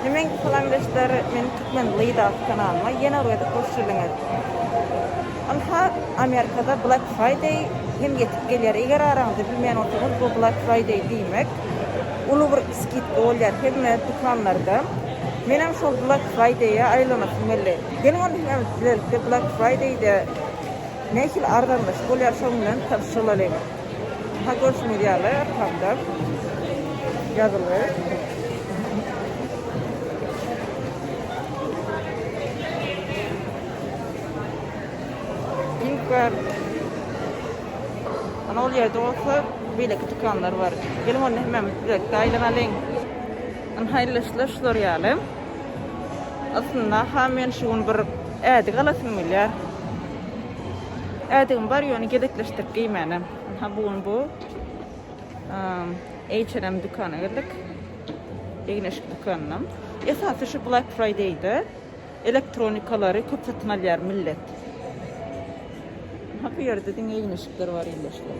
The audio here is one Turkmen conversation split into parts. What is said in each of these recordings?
Nemeň salamdeşler meniň türkmen Leýlas kanalyma ýene bir gezek hoş geldiňiz. Ynha Amerikada Black Friday hem ýetip gelýär. Eger araňyzda bilmeýän bolsaňyz bu Black Friday diýmek uly bir skidka bolýar hemme dükanlarda. Menem şol Black Friday-a aýlanasym geldi. Geliň onda hemem sizlerki Black Friday-de nähili arzanlaşyk bolýar şoň bilen tanyşylalyň. Aha görşüňiz ýaly arkamda ýazyly. Link bar. Ana ol ýerde bolsa beýleki dükanlar bar. Geliň onda hemmämiz bilelikde aýlanalyň. Ana haýyrlyşlar şular ýaly. Aslynda ha men şu gün bir ädik alasym gelýär. Ädigim bar ýöne gezekleşdirip geýmänem. Ha bu gün bu H&M dükana girdik. Egneşik dükanyna. Esasy şu Black Friday-de elektronikalary köp satyn alýar millet. Ha bu ýerde diňe egneşikler bar indi şular.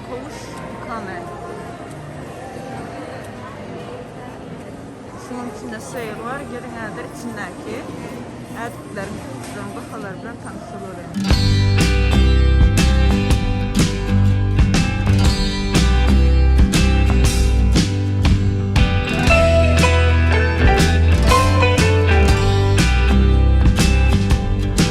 Kowuş ikame. Şunuň içinde şeýr bar, geliň häzir içindäki ädikler, kowuşlaryň bahalary bilen tanyş bolalyň.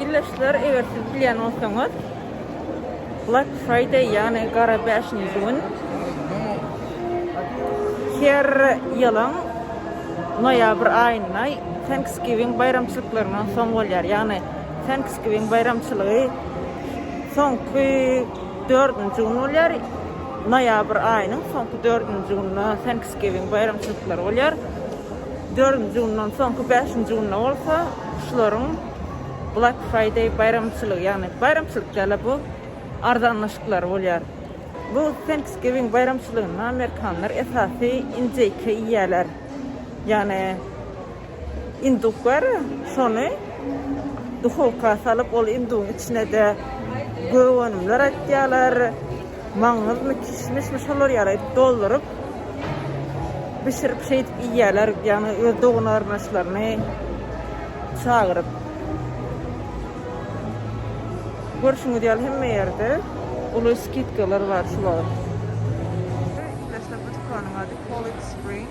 Ildeşler, eger siz bilýän bolsaňyz, Black Friday, ýagny gara bäşinji gün her ýylyň noýabr aýynda Thanksgiving baýramçylyklaryndan soň bolýar. Ýagny Thanksgiving baýramçylygy soňky Dördünji gün bolýar. Noýabr aýynyň soňky dördünji gününe Thanksgiving baýramçylyklary bolýar. Dördünji günden soňky bäşinji günde bolsa şularyň Black Friday baýramçylygy, ýagny baýramçylyk däl-de bu arzanlaşyklary bolýar. Bu Thanksgiving baýramçylygynda amerikanlar esasy injeýke iýýärler. Ýagny. Induklar şony duhowka salyp, ol indugyň içine-de gök önümler atýarlar, maňyzmy, kişmişmi şolar ýaly edip dolduryp, bişirip şeýdip iýýärler, ýagny öz dogan-garyndaşlaryny çagyryp. Görşüňiz ýaly hemme ýerde uly skidkalar bar şu wagt. Ilki başda bu dükanyň ady College Spring.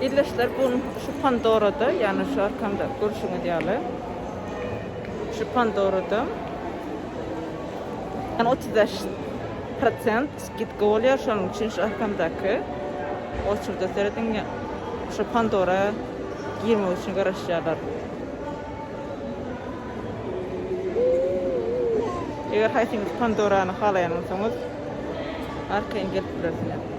Ildeşler bun şu pandorada ýagny şu arkamda görşüňiz ýaly şu pandorada ýagny otuz bäş prosent gitgi bolýar şonuň üçin şu arkamdaky oçurda serediň şu pandora girmek üçin garaşýarlar. Eger haýsyňyz pandorany halaýansoňyz arkaýyn gelip bilersiňiz.